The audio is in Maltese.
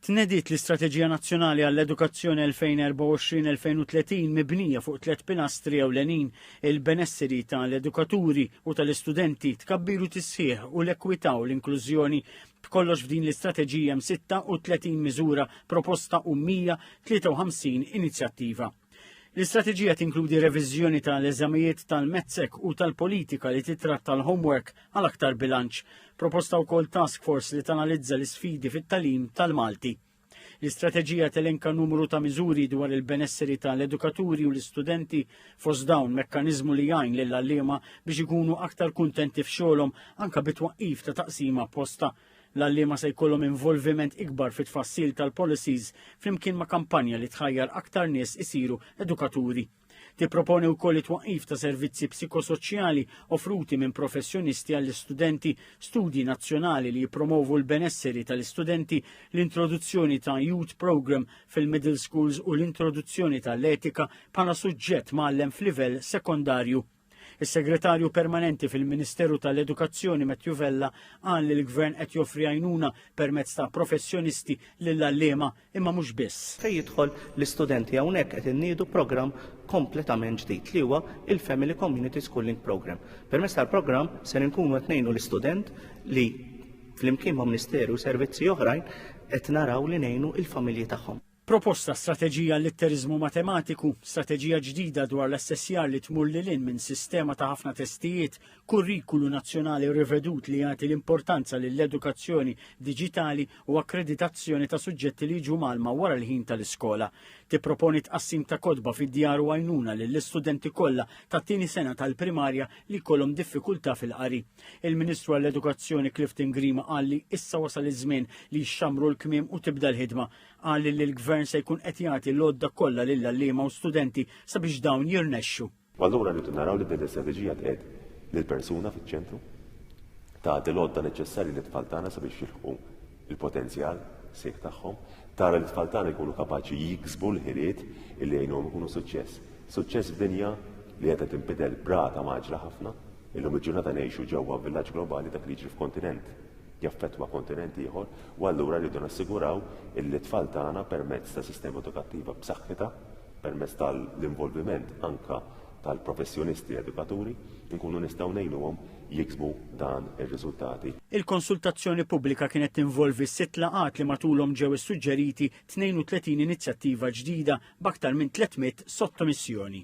Tnediet l-Istrateġija Nazzjonali għall-Edukazzjoni 2024-2030 mibnija fuq tliet pilastri ewlenin, il-benesseri tal-edukaturi u tal-istudenti, tkabbiru tisħiħ u l-ekwità u l-inklużjoni. B'kollox f'din l-istrateġija hemm 36 miżura proposta u 153 inizjattiva. L-istrateġija tinkludi reviżjoni tal-eżamijiet tal-mezzek u tal-politika li titratta l-homework għal aktar bilanċ, proposta wkoll task force li tanalizza l-isfidi fit-talim tal-Malti. L-istrateġija telenka numru ta' miżuri dwar il-benesseri tal-edukaturi u l-istudenti fost dawn mekkaniżmu li jgħin lill-għalliema biex ikunu aktar kuntenti f'xogħolhom anke bit-twaqqif ta' taqsima posta L-għalliema se jkollhom involviment ikbar fit-tfassil tal-policies flimkien ma' kampanja li tħajjar aktar nies isiru edukaturi. Tipproponi wkoll it-twaqqif ta' servizzi psikosoċjali offruti minn professjonisti għall-istudenti, studji nazzjonali li jippromovu l-benesseri tal-istudenti, l-introduzzjoni ta' youth program fil-middle schools u l-introduzzjoni tal-etika bħala suġġett mgħallem f'livell sekondarju. Is-Segretarju Permanenti fil-Ministeru tal-Edukazzjoni Matthew Vella qal li l-Gvern qed joffri għajnuna permezz ta' professjonisti lill-għalliema imma mhux biss. Fejn jidħol l-istudenti hawnhekk qed inniedu programm kompletament ġdid li huwa il-Family Community Schooling Programme. Permezz tal-programm ser inkunu qed ngħinu l-istudent li flimkien ma' Ministeru u servizzi oħrajn qed naraw li ngħinu l-familji tagħhom. Proposta strateġija għall-litteriżmu matematiku, strateġija ġdida dwar l-assessjar li tmur lil hinn minn sistema ta' ħafna testijiet, kurrikulu nazzjonali rivedut li jagħti l-importanza lill-edukazzjoni diġitali u akkreditazzjoni ta' suġġetti li jiġu mgħallma wara l-ħin tal-iskola. Tipproponi tqassim ta' kotba fid-djar u għajnuna lill-istudenti kollha tat-tieni sena tal-primarja li jkollhom diffikultà fil-qari. Il-Ministru għall-Edukazzjoni Clifton Grima qal li issa wasal iż-żmien li jxammru l-kmiem u tibda l-ħidma. Qal li l-Gvern se jkun qed jagħti l-għodda kollha lill-għalliema u studenti sabiex dawn jirnexxu. U allura rridu naraw li din l-istrateġija tqiegħed lill-persuna fiċ-ċentru, tagħti l-għodda neċessarji lit-tfal tagħna sabiex jilħqu l-potenzjal sejħ tagħhom, tara li t-tfal tagħna jkunu kapaċi jiksbu l-ħiliet li jgħinuhom ikunu suċċess. Suċċess f'dinja li qiegħda tinbidel b'rata maġla ħafna, illum il-ġurnata ngħixu ġewwa villaġġ globali dak li jiġri f'kontinent jaffettwa kontinent ieħor u allura rridu nassiguraw illi t-tfal tagħna permezz ta' sistema edukattiva b'saħħitha, permezz tal-involviment anke tal-professjonisti edukaturi, inkunu nistgħu ngħinuhom jiksbu dan ir-riżultati. Il-konsultazzjoni pubblika kienet tinvolvi sitt laqgħat li matulhom ġew issuġġeriti 32 inizjattiva ġdida b'aktar minn 300 sottomissjoni.